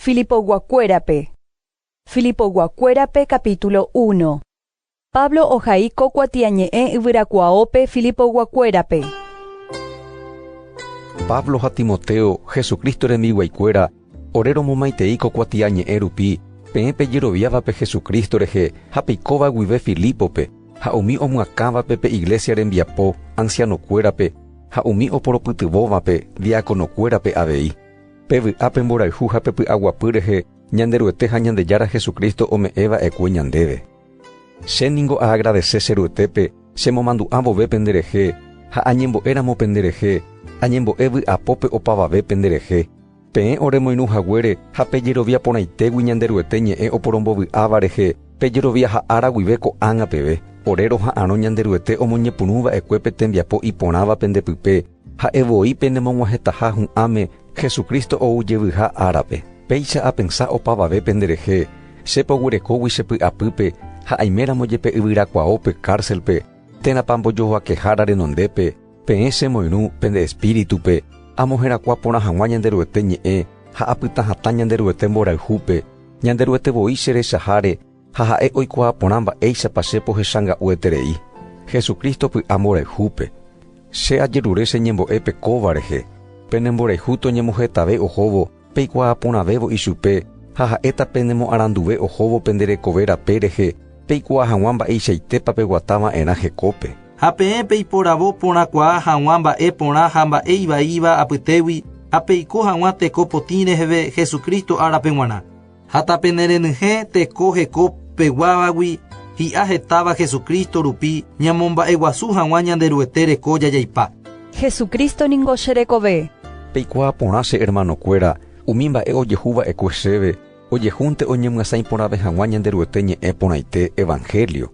Filipoguakuérape Filipoguakuérape capítulo uno Pablo ohai ko kuatiañe'ẽ yvyrakuaópe Filipoguakuérape. Pablo ha Timoteo, Jesucristo rembiguaikuéra, ore romomaitei ko kuatiañe'ẽ rupi, peẽ pejeroviávape Jesucristo rehe ha peikóva guive Filípope, ha umi omyakãvape pe iglesia rembiapo, ancianokuérape, ha umi oporopytyvõvape, diáconokuérape avei. Pe vy'a, pe mborayhu ha pe py'aguapy rehe Ñanderuete ha Ñandejára Jesucristo ome'ẽ va'ekue ñandéve. Che ningo aagradese che Ruetépe chemomandu'a vove pende rehe ha añembo'e ramo pende rehe, añembo'e vy'apópe opavave pende rehe, peẽ ore moirũ haguére ha pe jerovia porãitégui Ñanderuete ñe'ẽ oporombo vy'áva rehe pe jerovia ha ára guive ko'ág̃a peve, ore roha'arõ Ñanderuete omoñepyrũ va'ekue pe tembiapo iporãva pende pype, Ha'e voi penemog̃uahẽtaha hu'ãme Jesucristo ou jevyha árape. Péicha apensa opavave penderehe, Che pogurekógui che py'apýpe ha aiméramo jepe yvyrakuaópe kárselpe, térãpa mbojojoakehára renondépe, peẽ che moirũ pende espíritupe, amoherakuã porã hag̃ua Ñanderuete ñe'ẽ ha apytã hatã Ñanderuete mborayhúpe, Ñanderuete voi cherechaháre, Ha ha'e oikuaa porã mba'éichapa che pohechanga'ueterei Jesucristo py'amborayhúpe. Che ajerure che ñembo'e pe kóva rehe, penemborayhu toñemohetave ohóvo peikuaa porãvévo ichupe ha ha'éta penemoaranduve ohóvo pende rekove rape rehe peikuaa hag̃ua mba'eichaitépa peguata va'erã hekópe. Ha peẽ peiporavo porãkuaa hag̃ua mba'e porã ha mba'e ivaíva apytégui ha peiko hag̃ua teko potĩ reheve Jesucristo árape g̃uarã. Ha tapenerenyhẽ teko heko peguávagui hi'a hetáva Jesucristo rupi ñamomba'eguasu hag̃ua Ñanderuete reko jajaipa. Jesucristo ningo che rekove. Peikuaa porã che hermanokuéra, umi mba'e ojehu va'ekue chéve ojehúnte oñemyasãi porãve hag̃ua Ñanderuete ñe'ẽ porãite evangelio.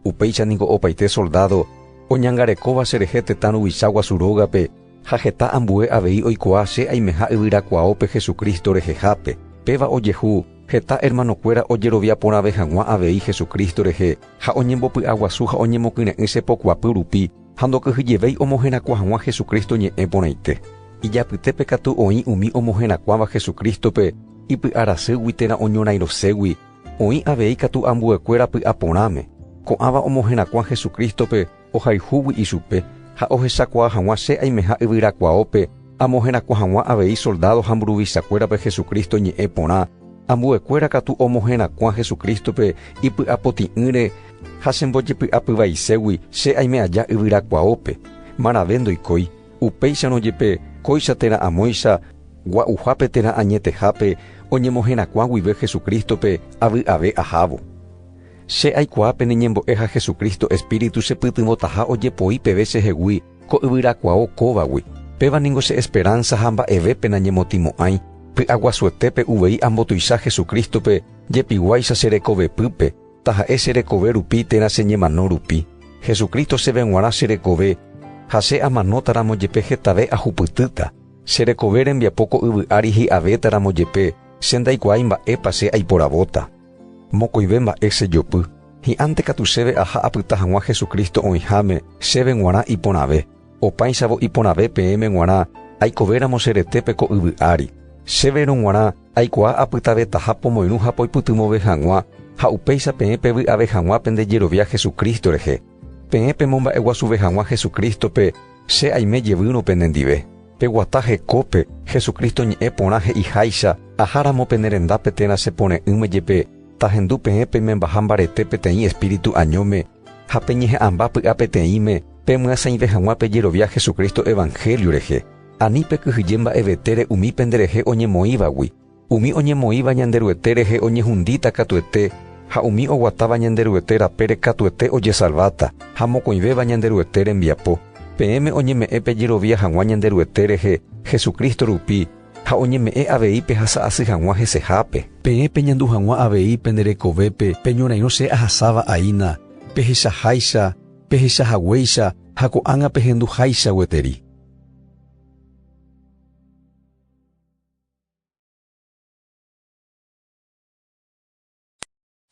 Upéicha ningo opaite soldádo oñangarekóva cherehe tetã ruvicha guasu rógape ha heta ambue avei oikuaa che aimeha yvyrakuaópe Jesucristo rehehápe. Péva ojehu, heta ermanokuéra ojerovia porãve hag̃ua avei Jesucristo rehe ha oñembopy'aguasu ha oñemokyre'ỹ che pokuapy rupi ha ndokyhyjevéi omoherakuã hag̃ua Jesucristo ñe'ẽ porãite. Ijapytépe katu oĩ umi omoherakuãva Jesucristo-pe ipy'arasýgui térã oñorãiroségui, Oĩ avei katu ambuekuéra py'aporãme, ko'ãva omoherakuã Jesucristo-pe ohayhúgui ichupe ha ohechakuaa hag̃ua che aimeha yvyrakuaópe amoherakuã hag̃ua avei soldádo ha mburuvichakuérape Jesucristo ñe'ẽ porã, ambuekuéra katu omoherakuã Jesucristo-pe ipy'apotĩ'ỹre ha chembojepy'apyvaiségui che aime aja yvyrakuaópe, marave ndoikói. Upéicharõ jepe, kóicha térã amóicha, gua'uhápe térã añetehápe, oñemoherakuã guive Jesucristo-pe, avy'ave ahávo. Che aikuaa pene ñembo'e ha Jesucristo Espíritu chepytyvõtaha ojepoi peve chehegui ko yvyrakuao kóvagui, péva ningo che esperanza ha mba'evépe nañemotimo'ãi, py'aguasuetépe uvei ambotuicha Jesucristo-pe jepiguáicha che rekovepýpe, taha'e che rekove rupi térã che ñemano rupi, Jesucristo chéve g̃uarã che rekove, ha che amanóta ramo jepe hetave ahupytýta, che rekove rembiapo ko yvy ári hi'avéta ramo jepe, che ndaikuaái mba'épa che aiporavóta. Mokõive mba'e che jopy, hi'ãnte katu chéve aha apyta hag̃ua Jesucristo oĩháme chéve g̃uarã iporãve. Opãichavo iporãve peẽme g̃uarã aikovéramo che retépe ko yvy ári, chéverõ g̃uarã aikuaa apytavetaha pomoirũ ha poipytyvõve hag̃ua, ha upéicha peẽ pevy'ave hag̃ua pende jerovia Hesu Crísto rehe, peẽ pemomba'eguasuve hag̃ua Hesu Crístope, che aime jevýrõ penendive. Peguata hekópe, Hesu Crísto ñe'ẽ porã he'iháicha, Aháramo pene rendápe térã che pore'ỹme jepe, tahendu peẽ peimembaha mbarete peteĩ espíritu añóme, Ha peñeha'ãmba py'a peteĩme pemyasãive hag̃ua pejerovia Jesucristo evangelio rehe, ani pekyhyje mba'evetére umi penderehe oñemoĩvagui, umi oñemoĩva Ñanderuete rehe oñehundíta katuete ha umi oguatáva Ñanderuete rapére katuete ojesalváta, ha mokõivéva Ñanderuete rembiapo, peẽme oñeme'ẽ pejerovia hag̃ua Ñanderuete rehe Jesucristo rupi, Ha oñeme'ẽ avei pehasa asy hag̃ua hesehápe. Peẽ peñandu hag̃ua avei pene rekovépe pe ñorairõ che ahasáva aína, pehechaháicha, pehecha haguéicha ha ko'ág̃a pehendu háicha gueteri.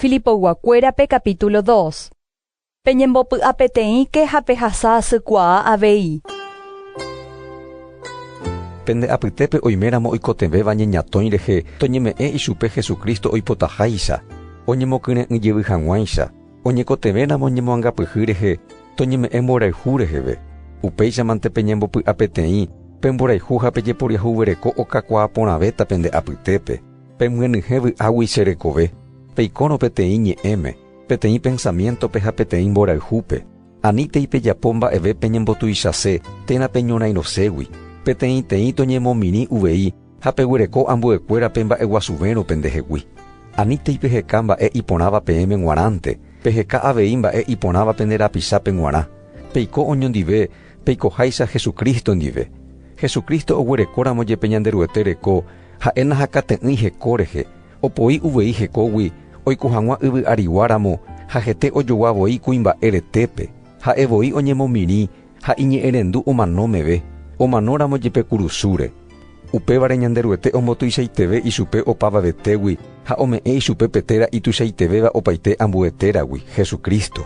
Filipogua-kuérape capítulo 2 Peñembopy'apeteĩke ha pehasa asykuaa avei. Pende apytépe oiméramo oikotevẽva ñeñatõi rehe, toñeme'ẽ ichupe Jesucristo oipotaháicha, oñemokyre'ỹ jevy hag̃uáicha. Oñekotevẽramo ñemoangapyhy rehe, toñeme'ẽ mborayhu reheve. Upéichamante peñembopy'apeteĩ, pemborayhu ha pejeporiahuvereko okakuaa porãvéta pende apytépe. Pemyenyhẽ vy'águi che rekove, peikórõ peteĩ ñe'ẽme, peteĩ pensamiéntope ha peteĩ mborayhúpe. Anítei pejapo mba'eve peñembotuichase térã peñorãiroségui, peteĩteĩ toñemomirĩ uvei ha peguereko ambuekuérape mba'eguasuvérõ pendehegui. Anítei peheka mba'e iporãva peẽme g̃uarãnte, peheka avei mba'e iporãva pende rapichápe g̃uarã. Peiko oñondive peikoháicha Jesucristo ndive. Jesucristo oguerekóramo jepe Ñanderuete reko, Ha'e nahakate'ỹi heko rehe, opoi uvei hekógui oiko hag̃ua yvy arigua ramo ha hete ojogua voi kuimba'e retépe, ha'e voi oñemomirĩ ha iñe'ẽrendu omano meve, omano ramo jepe kurusúre. Upévare Ñanderuete ombotuichaiteve ichupe opavavetégui ha ome'ẽ ichupe pe téra ituichaitevéva opaite ambue téragui, Jesucristo.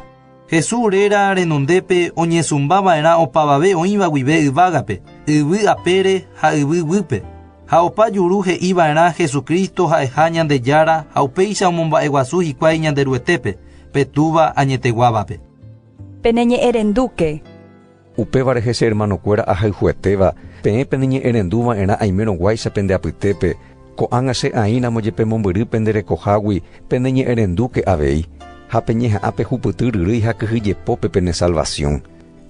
Jesús réra renondépe oñesũmba va'erã opavave oĩva guive yvágape, yvy apére ha yvy guýpe. Ha opa juru he'i va'erã Jesucristo ha'eha Ñandejára ha upéicha omomba'eguasu hikuái Ñanderuetépe, pe Túva añeteguávape. Peneñe'ẽrendúke. Upévare hese ermanokuéra ahayhuetéva, peẽ peneñe'ẽrendu va'erã aimérõguáicha pende apytépe, ko'ág̃a che aĩramo jepe mombyry pende rekohágui, peneñe'ẽrendúke avei, ha peñeha'ã pe hupyty ryrýi ha kyhyjepópe pene salvasiõ.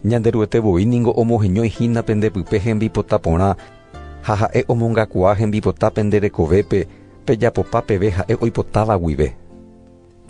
Ñanderuete voi ningo omoheñói hína pende pype hembipota porã, ha ha'e omongakuaa hembipota pende rekovépe, pejapopa peve ha'e oipotáva guive.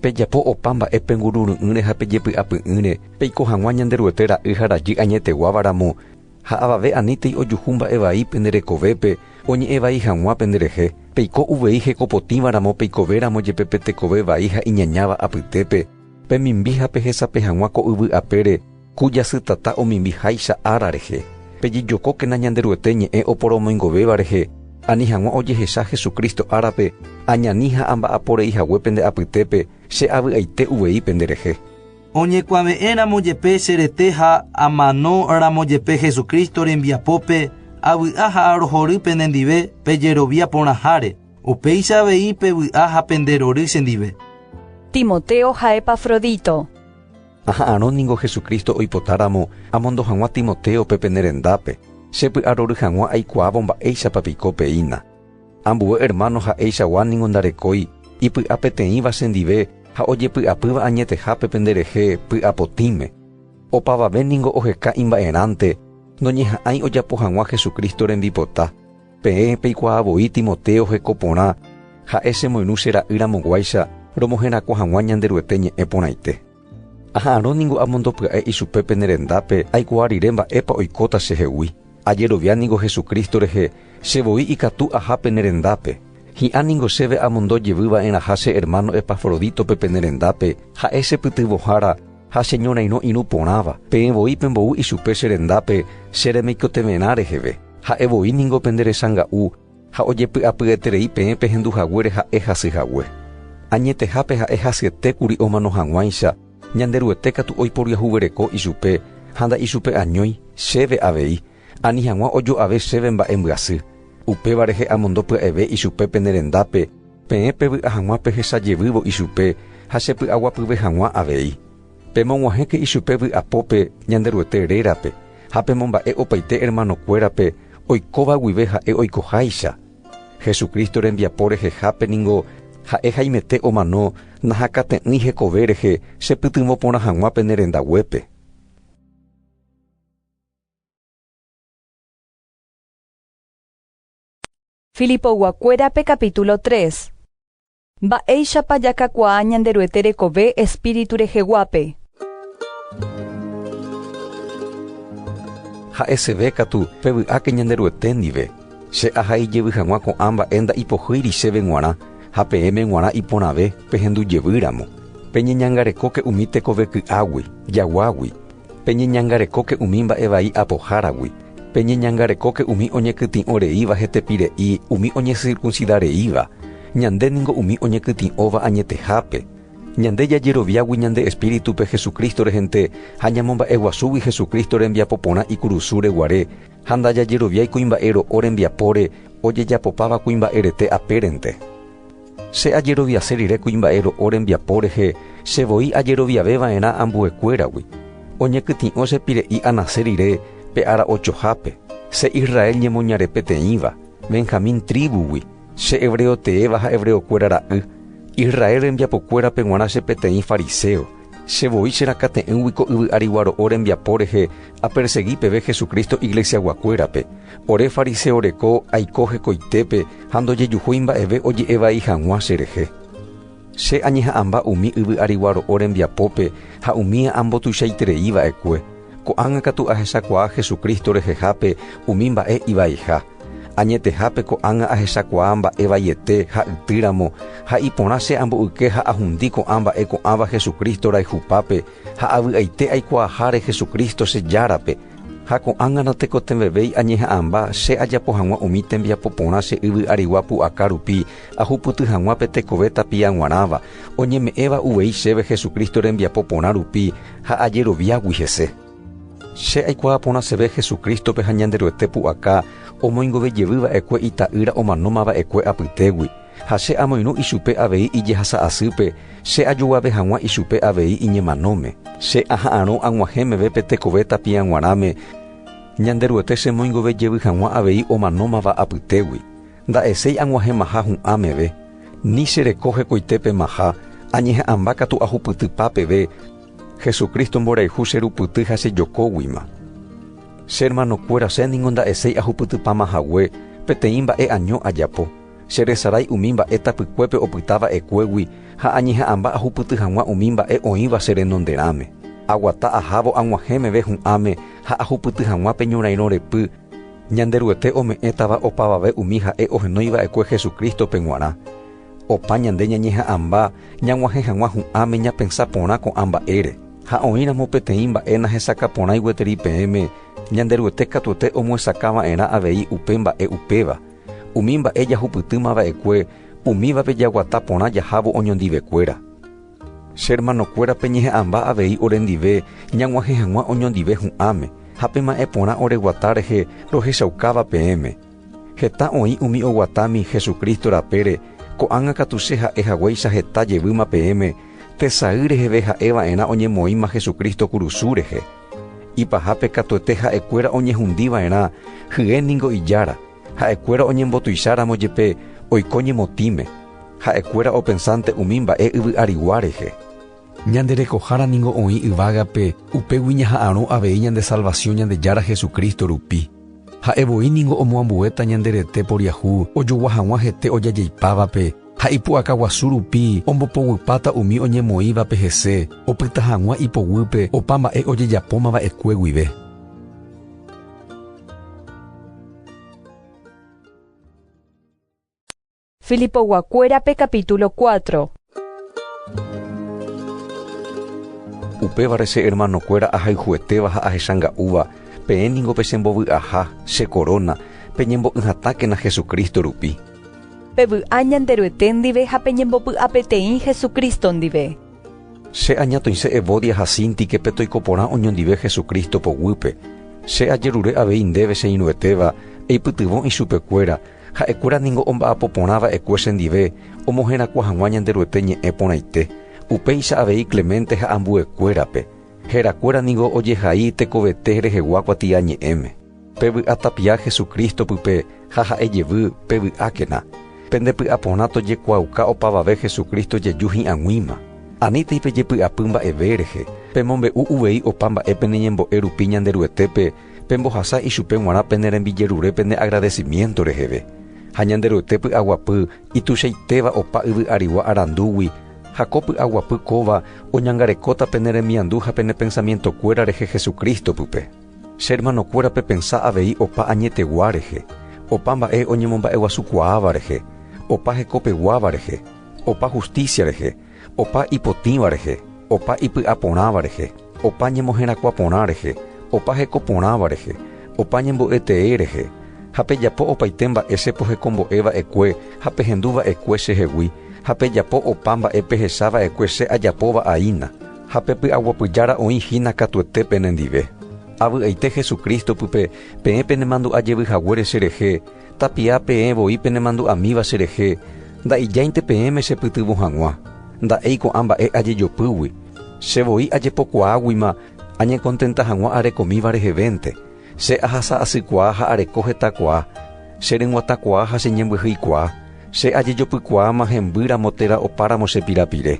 Pejapo opa mba'e pengurury'ỹre ha pejepy'apy'ỹre, peiko hag̃ua Ñanderuete ra'y ha rajy añeteguáva ramo, ha avave anítei ojuhu mba'e vai pende rekovépe oñe'ẽ vai hag̃ua pende rehe, peiko uvei hekopotĩva ramo peikove ramo jepe pe tekove vai ha iñañáva apytépe, pemimbi ha pehesape hag̃ua ko yvy apére, Ku jasytata omimbi háicha ára rehe. Pejejokókena Ñanderuete ñe'ẽ oporomoingovéva rehe, ani hag̃ua ojehecha Jesucristo árape, añani ha amba'apo rei hague pende apytépe, che avy'aite uvei pende rehe. Oñekuave'ẽ ramo jepe che rete ha amano ramo jepe Jesucristo rembiapópe, avy'a ha arohory pene ndive pe jerovia porãháre, upéicha avei pevy'a ha pende rory che ndive. Timoteo ha Epafrodito. Aha'arõ ningo Jesucristo oipotáramo amondo hag̃ua Timotéope pene rendápe, che py'arory hag̃ua aikuaávo mba'éichapa piko peína. Ambue ermáno ha'eichagua ningo ndarekói ipy'a peteĩva chendive ha ojepy'apýva añetehápe penderehe py'apotĩme. Opavave ningo oheka imba'erãnte noñeha'ãi ojapo hag̃ua Jesucristo rembipota. Peẽ peikuaa voi Timoteo heko porã, ha'e chemoirũ che ra'y ramoguáicha romoherakuã hag̃ua Ñanderuete ñe'ẽ porãite. Aha'arõ ningo amondopya'e ichupe pene rendápe aikuaa rire mba'épa oikóta chehegui. Ajerovia ningo Jesucristo rehe che voi ikatu aha pene rendápe. Hi'ã ningo chéve amondo jevy va'erãha che hermano Epafrodítope pene rendápe, ha'e che pytyvõhára, Ha cheñorairõ irũ porãva, peẽ voi pembo'u ichupe che rendápe che remeikotevẽrã reheve. Ha'e voi ningo pende rechanga'u, ha ojepy'apyeterei peẽ pehendu haguére ha'e hasy hague. Añetehápe ha'e hasyete kuri omano hag̃uáicha, Ñanderuete katu oiporiahuvereko ichupe, ha nda'ichupe añói, chéve avei, Ani hag̃ua ojo'ave chéve mba'e mbyasy. Upéva rehe amondo pya'eve ichupe pene rendápe, peẽ pevy'a hag̃ua pehecha jevývo ichupe ha chepy'aguapyve hag̃ua avei. Pemog̃uahẽke ichupe vy'apópe Ñanderuete rérape ha pemomba'e opaite ermanokuérape oikóva guive ha'e oikoháicha. Jesucristo rembiapo rehehápe ningo ha'e haimete omano nahakate'ỹi hekove rehe chepytyvõ porã hag̃ua pene rendaguépe. Filipoyguakuérape kapítulo tres. Mba'éichapa jakakuaa Ñanderuete rekove espíritu reheguápe. Ha'eseve katu, pevy'áke Ñanderuete ndive. Che aha ijevy hag̃ua ko'ã mba'e nda'ipohýiri chéve g̃uarã, ha peẽme g̃uarã iporãve pehendujevýramo. Peñeñangarekóke umi tekoveky'águi, jaguágui. Peñeñangarekóke umi mba'e vai apoháragui, peñeñangarekóke umi oñekytĩ'o reíva hetepire'i umi oñesirkunsida reíva, ñande ningo umi oñekytĩ'óva añetehápe. Ñande jajeroviágui ñande espíritupe Jesucristo rehente ha ñamomba'eguasúgui Jesucristo rembiapo porã ikurusúre guare ha ndajajeroviái kuimba'e ro'o rembiapóre ojejapopáva kuimba'erete apérente. Che ajeroviase rire kuimba'e ro'o rembiapo rehe che voi ajeroviave va'erã ambue kuéragui. Oñekytĩ'o che pire'i anase rire pe ára ojohápe, che Israel ñemoñare peteĩva, Benjamín tríbugui, che hebreo teéva ha hebreo kuéra ra'y, Israel rembiapo kuérape g̃uarã che peteĩ fariseo, Che voi cherakate'ỹgui ko yvy arigua ro'o rembiapo rehe apersegi peve Jesucristo iglesiaguakuérape. Ore fariseo reko aiko hekoitépe ha ndojejuhúi mba'eve oje'e vai hag̃ua cherehe. Che añeha'ãmba umi yvy arigua ro'o rembiapópe ha umíva ambotuichaiterei va'ekue. Ko'ág̃a katu ahechakuaa Jesucristo rehehápe umi mba'e ivaiha. Añetehápe ko'ág̃a ahechakuaa mba'e vaiete ha yty ramo, ha iporã che amboyke ha ahundi ko'ã mba'e ko'ãva Jesucristo rayhupápe ha avy'aite aikuaaháre Jesucristo che Járape, ha ko'ág̃a natekotevẽvéi añeha'ãmba che ajapo hag̃ua umi tembiapo porã che yvy arigua pu'aka rupi ahupyty hag̃ua pe tekove tapia g̃uarãva, oñeme'ẽva uvei chéve Jesucristo rembiapo porã rupi Ha ajeroviágui hese, che aikuaa porã cheve Jesucrístope ha Ñanderuete pu'aka omoingove jevy va'ekue Ita'ýra omanóma va'ekue apytégui, ha che amoirũ ichupe avei ijehasa asýpe, che ajoguave hag̃ua ichupe avei iñemanóme. Che aha'arõ ag̃uahẽ meve pe tekove tapia g̃uarãme, Ñanderuete chemoingove jevy hag̃ua avei omanómava apytégui. Nda'eséi ag̃uahẽmaha hu'ã meve, ni che reko hekoitépemaha añeha'ãmba katu ahupytypa peve Jesucristo mborayhu che rupyty ha che jokóguima. Che hermano kuéra che ningo nda'eséi ahupytypama hague peteĩ mba'e año ajapo, che resarái umi mba'e tapykuépe opyta va'ekuégui ha añeha'ãmba ahupyty hag̃ua umi mba'e oĩva che renonderãme. Aguata ahávo ag̃uahẽ meve hu'ãme ha ahupyty hag̃ua pe ñorairõ repy, Ñanderuete ome'ẽtava opavave umi ha'e ohenói va'ekue Jesucristo-pe g̃uarã. Opa ñande ñañeha'ãmba ñag̃uahẽ hag̃ua hu'ãme ñapensa porã ko'ã mba'ére. Ha oĩramo peteĩ mba'e nahesakã porãi gueteri peẽme, Ñanderuete katuete omohesakã va'erã avei upe mba'e upéva. Umi mba'e jahupytýma va'ekue, umívape jaguata porã jahávo oñondivekuéra. Che ermanokuérape ñeha'ãmba avei orendive ñag̃uahẽ hag̃ua oñondive hu'ãme, ha pema'ẽ porã ore guata rehe rohechaukáva peẽme. Heta oĩ umi oguatámi Jesucristo rapére, ko'ág̃a katu che ha'e haguéicha heta jevýma peẽme tesay reheve ha'e va'erã oñemoĩma Jesucristo kurusu rehe. Ipahápe katuete ha'ekuéra oñehundi va'erã hye ningo ijára, ha'ekuéra oñembotuicháramo jepe oiko ñemotĩme. Ha'ekuéra opensánte umi mba'e yvy arigua rehe. Ñande rekohára ningo oĩ yvágape, upégui ñaha'arõ avei ñande salvasiõ Ñandejára Jesucristo rupi. Ha'e voi ningo omoambuéta ñande rete poriahu ojogua hag̃ua hete ojajeipávape, ha ipu'aka guasu rupi ombopoguipáta umi oñemoĩvape hese opyta hag̃ua ipoguýpe opa mba'e ojejapóma va'ekue guive. Filipoguakuérape capítulo cuatro. Upévare che hermanokuéra ahayhuetéva ha ahechanga'úva, peẽ ningo pechembovy'aha, che koróna, peñembo'ỹhatákena Jesucristo rupi. Pevy'a Ñanderuete ndive ha peñembopy'apeteĩ Jesucristo ndive. Che añatõise Evodia ha Síntikepe toiko porã oñondive Jesucristo poguýpe. Che ajerure avei ndéve che irũetéva, eipytyvõ ichupekuéra, Ha'ekuéra ningo omba'apo porã va'ekue chendive omoherakuã hag̃ua Ñanderuete ñe'ẽ porãite, upéicha avei Clemente ha ambuekuérape. Herakuéra ningo ojehai tekovete rehegua kuatia ñe'ẽme. Pevy'atapia Jesucristo pype ha ha'e jevy pevy'ákena. Pende py'a porã tojekuaauka opavave Jesucristo jeju hi'ag̃uíma. Anítei pejepy'apy mba'eve rehe, pemombe'u uvei opa mba'e pene ñembo'e rupi Ñanderuetépe pembohasa ichupe g̃uarã pene rembijerure pene agradecimiento reheve, ha Ñanderuete py'aguapy ituichaitéva opa yvy arigua arandúgui, ha ko py'aguapy kóva oñangarekóta pene remiandu ha pene pensamiento kuéra rehe Jesucristo pype. Che hermano kuéra pepensa avei opa añetegua rehe, opa mba'e oñemomba'eguasukuaáva rehe, opa hekopeguáva rehe, opa justicia rehe, opa ipotĩva rehe, opa ipy'a porãva rehe, opa ñemoherakuã porã rehe, opa heko porãva rehe, opa ñembo'e tee rehe. Ha pejapo opaite mba'e che pohekombo'e va'ekue ha pehendu va'ekue che hegui, ha pejapo opa mba'e pehecha va'ekue che ajapóva aína, ha pe py'aguapy Jára oĩ hína katuete pene ndive. Avy'aite Jesucristo pype, peẽ penemandu'a jevy haguére che rehe, Tapia peẽ voi penemandu'amíva cherehe, nda'ijáinte peẽme chepytyvõ hag̃ua, nda'éi ko'ã mba'e ajejopýgui, che voi ajepokuaáguima añekontenta hag̃ua arekomíva rehevénte, che ahasa asykuaa ha areko hetakuaa, che ryguatakuaa ha che ñembyhyikuaa, che ajejopykuaáma hemby ramo térã opáramo che pirapire.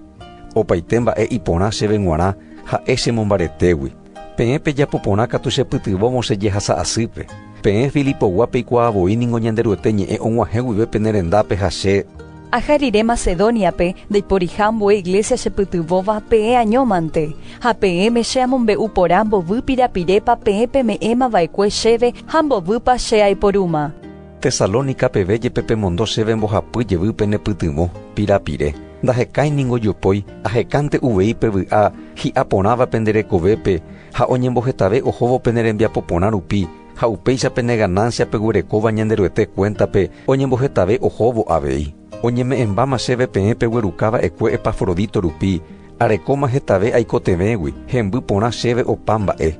Opaite mba'e iporã chéve g̃uarã ha'e che mombaretégui. Peẽ pejapo porã katu chepytyvõvo che jehasa asýpe. Peẽ Filipogua peikuaa voi ningo Ñanderuete ñe'ẽ og̃uahẽ guive pene rendápe ha che. Aja rire Macedóniape ndaiporiha ambue iglésia chepytyvõva peẽ añómante. Ha peẽme che amombe'u porã mbovy pirapirépa peẽ peme'ẽma va'ekue chéve ha mbovýpa che aiporúma. Tesalónica peve jepe pemondo chéve mbohapy jevy penepytyvõ, pirapire. Ndahekái ningo jopói, ahekánte uvei pe vy'a hi'a porãva pende rekovépe ha oñembohetave ohóvo pene rembiapo porã rupi, ha upéicha pene ganáncia peguerekóva Ñanderuete kuéntape oñembohetave ohóvo avei. Oñeme'ẽmbáma chéve peẽ pegueruka va'ekue Epafrodito rupi, arekóma hetave aikotevẽgui, hemby porã chéve opa mba'e.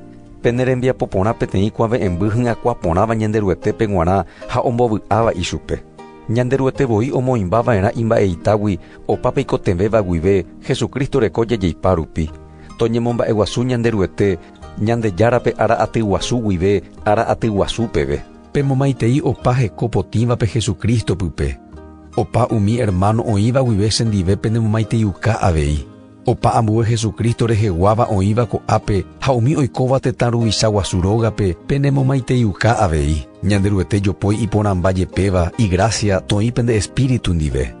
Pene rembiapo porã peteĩ kuave'ẽmby hyakuã porãva Ñanderuetépe g̃uarã ha ombovy'áva ichupe. Ñanderuete voi omoĩmba va'erã imba'eitagui opa peikotevẽva guive Jesucristo reko jajeipa rupi. Toñemomba'eguasu Ñanderuete Ñandejárape ára aty guasu guive ára aty guasu peve. Pemomaitei opa heko potĩvape Jesucristo pype. Opa umi hermano oĩva guive chendive penemomaiteiuka avei. Opa ambue Jesucristo reheguáva oĩva ko'ápe ha umi oikóva tetã ruvicha guasu rógape penemomaiteiuka avei. Ñanderuete jopói iporãmba jepéva igracia toĩ pende espíritu ndive.